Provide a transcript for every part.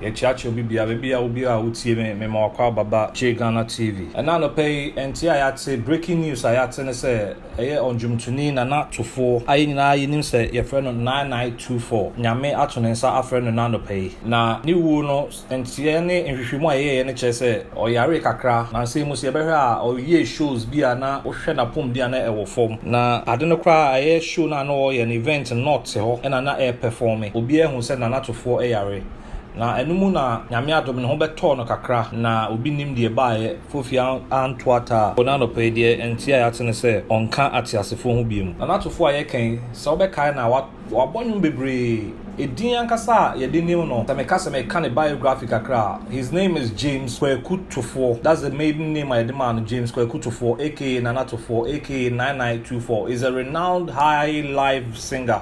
Yɛkyeakyea obi biara, ebi a obiara a wotie me, mema w'akwaaba ba ba Gye Ghana TV. Ɛna anɔpa yi, ɛnteɛ a yɛate, breaking news a yɛate ne sɛ ɛyɛ ɔndwomtoni Nana Tufoɔ a yɛn nyinaa yɛnim sɛ yɛfrɛ no Nine Nine Two Four, Nyame ato ne nsa afrɛ no nnɛ anɔpa yi. Na ne wuo no, nteɛ ne nhwehwɛmu a yɛyɛeɛ no kyerɛ sɛ ɔyaree kakra, nansa yi mu sɛ yɛbɛhwɛ a ɔyɛɛ shows bi a na wohwɛ n'apɔmuden a na ɛwɔ fam. Na ade no koraa ɛyɛ show no a na ɔreyɛ no, event no, na ɔte hɔ na na ɛrepɛfɔme. Obiara hu sɛ Nana Tufoɔ yare. Na ɛno mu na Nyame adom no ho bɛtɔɔ no kakra na obi nnim deɛ ɛbaeɛ, Fofie anto ataa. Wɔ n'anɔpa yi deɛ ɛnteɛ a yɛate ne sɛ ɔnka ateasefoɔ ho biom. Na n'atofoɔ a yɛka yi, sɛ wobɛkae no a, wabɔ nnwom bebree. Edin ankasa a yɛde nim no, sɛ meka sɛ meka ne biography kakra a, his name is James Kwaku Tofoɔ, that's the maiden name a yɛde maa no, James Kwaku Tofoɔ aka Nana Tofoɔ aka Nine Nine Two Four is a renowned high life singer.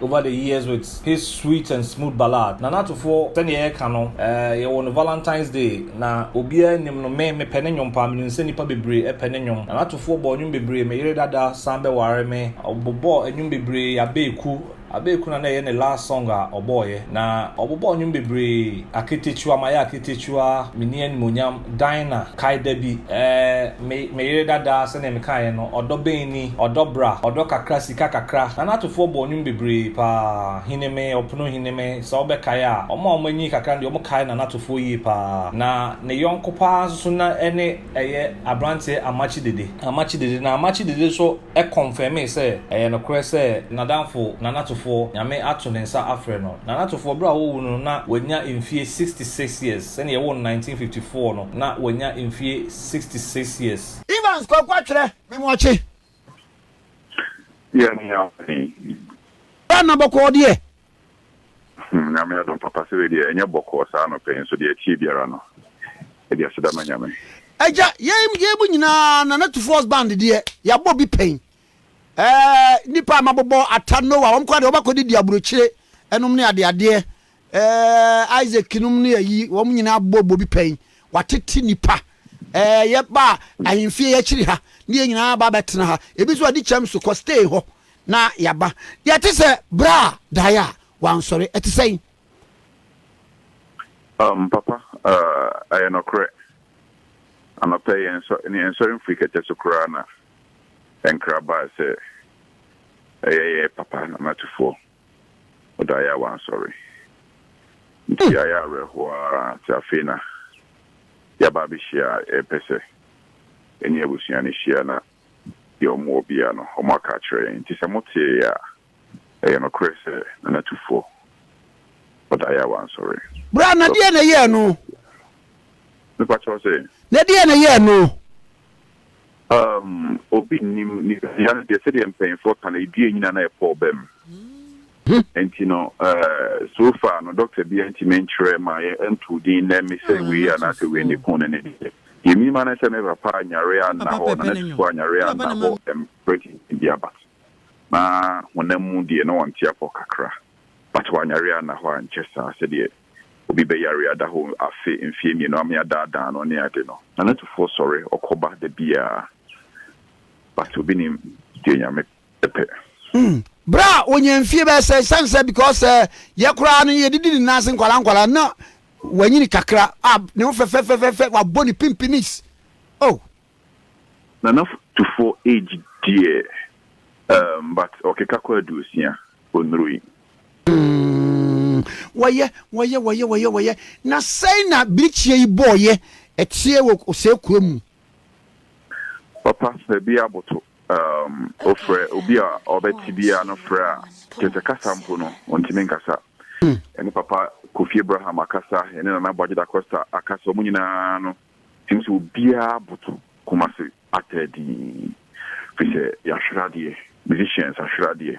Over the years with his sweet and smooth ballad Nana Atufoɔ sɛdeɛ yɛka no eh yɛwɔ no Valentine's day na obiara nnim no me mepɛ ne nnwom paa menim sɛ nnipa bebree pɛ ne nnwom Nana Atufoɔ bɔɔ nnwom bebree me yere dada san bɛware me ɔbobɔɔ nnwom bebree Abeeku Abeeku na na ɛyɛ ne last song a ɔbɔɔeɛ na ɔbobɔɔ nnwom bebree Aketekyua mayɛ aketekyua menni animuonyam Dinah, Kae da bi, eh, me, me yere dada, sɛnea mekaeɛ no, ɔdɔ bɛn ni? Ɔdɔ bra, ɔdɔ kakra, sika kakra. Na n'atofoɔ bɔɔ nnwom bebree paa, Hineme, Ɔpono Hineme, sɛ wobɛkae a. Wɔn a wɔanyin kakra no deɛ, wɔkae na n'atofoɔ yie paa. Na ne yɔnko paa nso so na ɛne ɛyɛ aberanteɛ Amakye Dede. Amakye Dede, na Amakye Dede nso kɔnfɛmee sɛ ɛyɛ nokorɛ sɛ n'adamfo Nanatofoɔ, Nyame ato ne nsa afrɛ no. Nanatofoɔ, berɛ a wɔwo no no, na wanya mfeɛ 66 years. Sɛdeɛ yɛwoo no 1954 no, na wanya mfeɛ 66 years. Evans Kwaku Atwerɛ, Me mu ɔkye. Yɛn ne Awurade. Ghana bɔkɔɔ deɛ, Hmm, Nyame adom papa sɛ wei deɛ ɛnyɛ bɔkɔɔ saa anɔpɛ yi nso deɛ ɛteɛ biara no, ɛde aseda ma Nyame. Agya, yei yei mu nyinaa Nana Tufoɔ's band deɛ, yɛabɔ bi pɛn. Ɛɛ, nnipa a mabobɔ, Atta, Noah, wɔn koraa deɛ wɔbɛkɔdidi aburokyire nom ne adeadeɛ. Ɛɛ, Isaac nom ne ayi, wɔn nyinaa abobɔ bɔ bi pɛn. Wɔatete nnipa. Ɛɛ, yɛba a, ahemfie yɛakyiri ha, ne yɛn nyinaa aba abɛtena ha. Ebi nso adi kyɛm so kɔ stay hɔ. Na yɛaba. Yɛte sɛ berɛ a daeɛ a wansɔre. Ɛte sɛn? Um, papa, uh, ɛyɛ nɔkorɛ. Anɔpɛ yɛn nsɔ, yɛn nsɔre mfiri kɛtɛ so koraa na nkra baa sɛ ɛyɛ yɛ papa Nana Atufoɔ wɔ daeɛ a wansɔre. Nti yɛayɛ hmm. awerɛhoɔ ara nti afei na yɛaba abɛhyia a yɛpɛ sɛ ɛne abusua no hyia na deɛ wɔwɔ biara no, wɔaka akyerɛ yɛn. Enti sɛ moteeɛ a, ɛyɛ nokorɛ sɛ Nana Tufoɔ ɔdaeɛ a wansɔre. Bra, na deɛn na ɛyɛɛ no? Mepa kyɛw sɛ? Na deɛn na ɛyɛɛ no? Um, obi nnim. Nipadua no deɛ, sɛdeɛ mpanyinfoɔ ka no, edua nyini a na ɛpɔ ɔbam. Nti no so far no doctor biaa ntumi nkyerɛ ma yɛ ntoo din nnɛ me sɛ wei anaa sɛ wei ne ko no ne deɛ. Deɛ me nim ane sɛ me papa anyare anna hɔ na n'asufo anyare anna hɔ mprɛ tenten biaa but na honam mu deɛ na ɔnte apɔ kakra but wanyare anna hɔ ankyɛ saa sɛdeɛ obi bɛyare ada hɔ afe mfeɛ mmienu ame adaadaa no ne ade no. Na n'asufoɔ sɔre ɔkɔ ba da biaa but obi nim deɛ Nyame pɛ. pɛ. Berɛ a ɔnya mfie bɛyɛ sɛ, ɛsiane sɛ because sɛ yɛ koraa no yɛde di ne nan ase nkwadaa nkwadaa na wanyini kakra a ne ho fɛfɛfɛfɛfɛ wabɔ ne pimpinis oh. Nana Tufoɔ age deɛ um, but ɔkeka kɔ aduosia, ɔnurui. Mm, wɔyɛ, wɔyɛ, wɔyɛ, wɔyɛ, wɔyɛ. Na sɛn na birikyeɛ yi bɔɔyɛ ɛteɛ wɔ ɔsɛe kuro mu? Papa, baabi aboto. Um, ofrɛ obi a ɔbɛte biara no frɛ a, kyerɛ sɛ kasa mpo no, ɔntumi nkasa. Hmm. Ɛne Papa Kofi Abraham akasa, ɛne Nana Aboagye Dacosta akasa, wɔn nyinaa no, ɛne sɛ obiara boto koma se atɛ dii. Firi sɛ yɛahwere adeɛ, musicians ahwere adeɛ.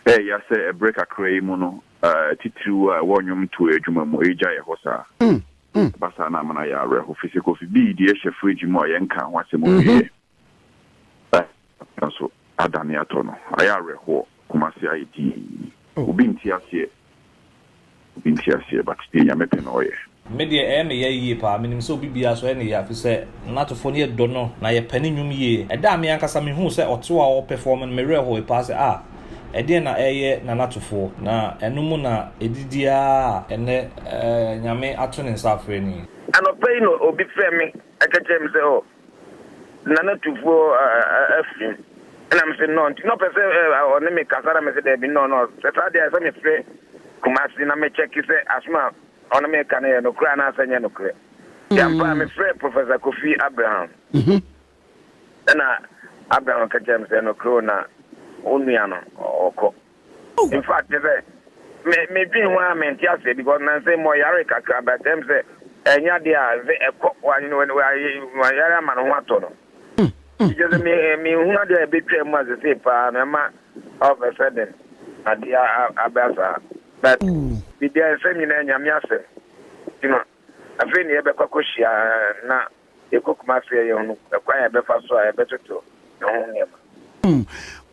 Ɛɛya sɛ ɛberɛ kakra yi mu no, uh, titiriw a ɛwɔ nnwom toɔ adwuma mu, ɛregya yɛ hɔ saa. Hmm. Hmm. Ɛba saa na amena yɛ awerɛho, firi sɛ Kofi Bii deɛ ɛhyɛ fridge mu a yɛnka ho asɛm mhm. ɔwieɛ. Ɛda so adane atɔ no. Ayɛ awerɛhoɔ. Kumasi ayɛ dinn. Obi nte aseɛ. Obi nte aseɛ but deɛ Nyame pɛ na ɔyɛ. Me deɛ ɛyɛ me ya yie paa, menim sɛ obi biara nso ɛyɛ no ya firi sɛ Natofoɔ no yɛ dɔ no na yɛ pɛ ne nnwom yie. Ɛda a me ankasa me huu sɛ ɔte hɔ a ɔɔ perform no me werɛ hooe paa sɛ ah ɛdeɛn na ɛɛyɛ na Natofoɔ na ɛno mu na ɛdidi aa ɛnɛ Nyame ato ne nsa afrɛ ni. Anɔpa yi na obi frɛ me ka kyerɛ me sɛ oh Nana Tufo afiri mu. Ɛna me se no nti na ɔpɛ sɛ ɔne me kasa na me se daabi no no sɛ saa deɛ sɛ me frɛ Kumasi na me kyɛke sɛ asom a ɔne me ka no yɛ nokorɛ anaasɛ nyɛ nokorɛ. Nti ampa a me frɛ Professor Kofi Abraham. Ɛna Abraham ka kyerɛ me sɛ nokorɛ o na wo nua no ɔkɔ. In fact kyerɛ sɛ me me dwen ho a me nte aseɛ because nansa yi mɔ yare kakra but ɛm sɛ ɛnyɛ adeɛ a nse ɛkɔ wa yare ama no ho atɔ no nti kyerɛ sɛ me me hu adeɛ a ɛbɛtwa mu a sesei paa no ɛma all of a sudden adeɛ abɛ saa but biribiara nsɛm nyinaa nyame asɛm nti no afei ne yɛbɛkɔ akɔhyia na yɛkɔ Kumasi a yɛhunu kwan a yɛbɛfa so a yɛbɛtoto ɛho nneɛma. Hmm,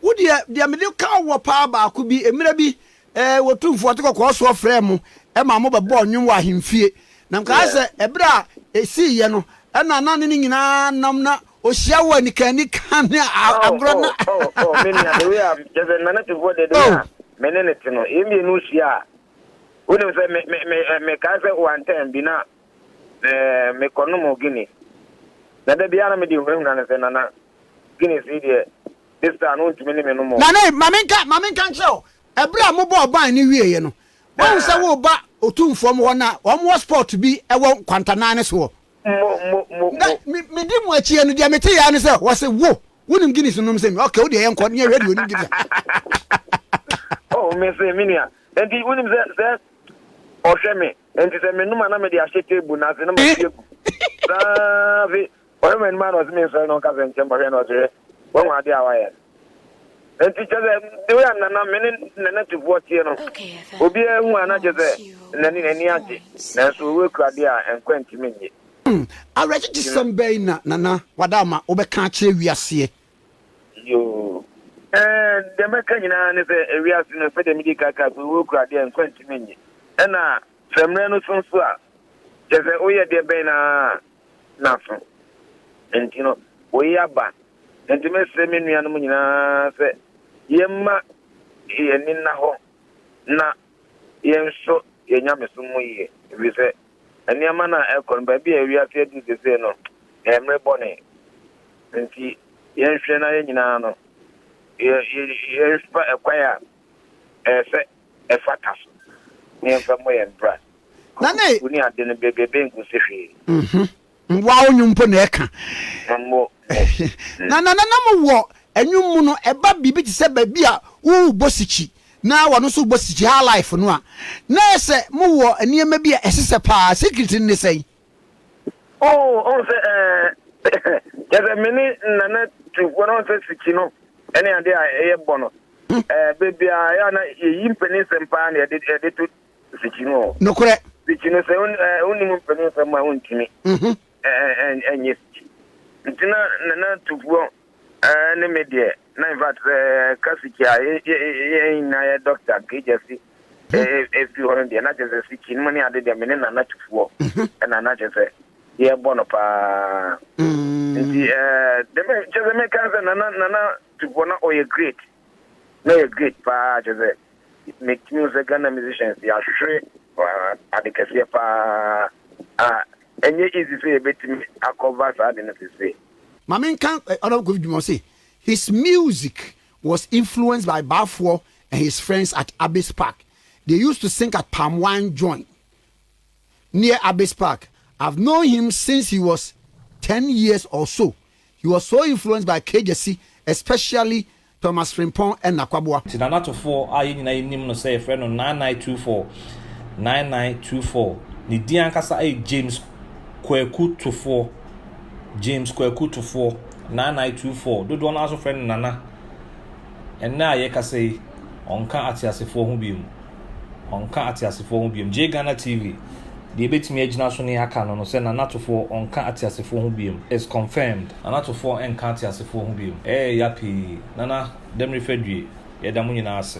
wo deɛ, deɛ mede ka wɔ paa baako bi, mmerɛ bi eh, wɔtumfoɔ te kɔkɔɔ soɔ frɛɛ mo ma mo bɛbɔɔ nnwom wɔ ahemfie. Na nkaa sɛ ɛberɛ a ɛsiiɛ no, ɛna na ne ne nyinaa nam na ɔhyia wɔ anikaanika ne agorɔ na. Oh, oh, oh, oh, me nua, the way a kyɛ sɛ nana tefoɔ deɛ deɛ a me ne ne te no, yɛn mmienu hyia a, wonim sɛ me, me, me, me kaa sɛ wantɛn bi na Ɛɛ, mekɔnom Guinness. Na da biara na mede hunahuna no sɛ, Nana, Guinness yi deɛ, this time no wontumi ne me nom o. Nana, ma menka, ma menka nkyerɛ wo, ɛberɛ a mobɔɔ ban no wieeɛ no, woahu sɛ woreba Otumfoɔ mo hɔ na wɔn wɔ spot bi wɔ nkwanta nan no so hɔ? Mo, mo, mo, mo. Na me, medi mo akyiɛ no, deɛ metee ara ne sɛ, wɔse, wo, wonim Guinness no nom? Sɛ me, okay, wodeɛ yɛnkɔ ne yɛhwɛ deɛ ɔnim Guinness a. Oh, mese, me nua, enti wonim sɛ, sɛ ɔhwɛ me, Enti sɛ menom a na mede ahyɛ table no ase na mahwie agu. Saa afe ɔhwɛ m'anim a na ɔse mensɔre na ɔnkasa nkyɛm ɔhwɛ na ɔse hwɛ wahu adeɛ a wayɛ no. Enti kyɛ sɛ the way a nana me ne nana tufoɔ teɛ no obiara hu a na kyɛ sɛ nana n'ani agye nanso ɔwura kura adeɛ a nkwa ntumi nnye. Awerɛkyekyesɛm bɛn na Nana Wadaama wobɛka akyerɛ wiaseɛ? Yoo eeh deɛ mɛka nyinaa ne sɛ ewiase no sɛdeɛ mede ka kaa sɛ owuo kura adeɛ a nkwa ntumi nnye ɛna sɛ mmerɛ no so nso a kyerɛ sɛ woyɛ deɛ bɛn no ara naso nti no wei aba nti mesrɛ me nuanom nyinaa sɛ yɛmma yɛn ani nna hɔ na yɛnhwɛ yɛn nyamesom mu yie ɛfiri sɛ Nneɛma no a ɛrekɔ no, baabi a wiase aduru seesei no, ɛyɛ mmere bɔne. Enti yɛnhwɛ na yɛn nyinaa no, yɛmfa ɛkwan a ɛyɛ sɛ ɛfata so, na yɛmfa mmɔ yɛn bra. Nane! Wo ne ade no, baabi a ɛbɛn ngu nsi hwee. Mmoa wo nnwom mpo na ɛka. Na nananom wɔ nnwom mu no, ɛba biribi te sɛ baabi a worebɔ sikyi na wɔn nso rebɔ sikyi, high life no a, na ayɛ sɛ mowɔ nneɛma bi a ɛsesɛ paa. Secret no ne sɛn? Oh, ɔhu sɛ ɛɛ, kyerɛ sɛ me ne Nana tu bɔ no, ɔhu sɛ sikyi no ɛne ade a ɛyɛ bɔ no, ɛɛ, baabi a ɛyɛ a na yɛyi mpanin nsɛm paa na yɛde yɛde to Nsekyeremu o. Nokorɛ. Sikyi no sɛ wonnim mpanin nsɛm a wontumi nyɛ sikyi. Nti na Nana Tufuo ne me deɛ na in fact sɛ ɛka sikyi a yɛn nyinaa yɛ doctor Nkejiasi firi hɔ no deɛ na kyerɛ sɛ sikyi nom ne ade deɛ me ne Nana Tufuo ɛna na kyerɛ sɛ yɛbɔ no paa. Nti deɛ kyerɛ sɛ meka sɛ Nana Nana Tufuo na ɔyɛ great. na yɛ great paa kyerɛ sɛ me tumi hu sɛ Ghana musicians yɛ ahwehwɛ ade kɛseɛ paa a ɛnyɛ easy sɛ yɛbɛtumi akɔva saa ade no sese. Ma me nka Honourable Kofi Dwuma ɔse his music was influenced by Baafoɔ and his friends at Abbeys Park they used to sing at palm wine joint near Abbey's Park, I've known him since he was ten years or so, he was so influenced by Kegyesi especially Thomas Frimpong and Nakwaboa. Te Nanatofoɔ a yɛn nyinaa yɛnim no sɛ yɛfrɛ no Nine Nine Two Four, Nine Nine Two Four, ne din ankasa yɛ James Kwaku Tufoɔ, James Kwaku Tufoɔ, Nine Nine Two Four, dodoɔ no ara nso frɛ no Nana. Ɛnnɛ a yɛrekasa yi, ɔnka ateasefoɔ ho bio. Ɔnka ateasefoɔ ho biom. Gye Ghana TV, Deɛ ɛbɛtumi agyina so ne aka no no sɛ Nana Atofoɔ ɔnka ateasefoɔ ho biom is confirmed. Nana Atofoɔ ɛnka ateasefoɔ ho biom. Ɛyɛ ya pii. Nana Damiri Fadwie, yɛda mo nyinaa ase.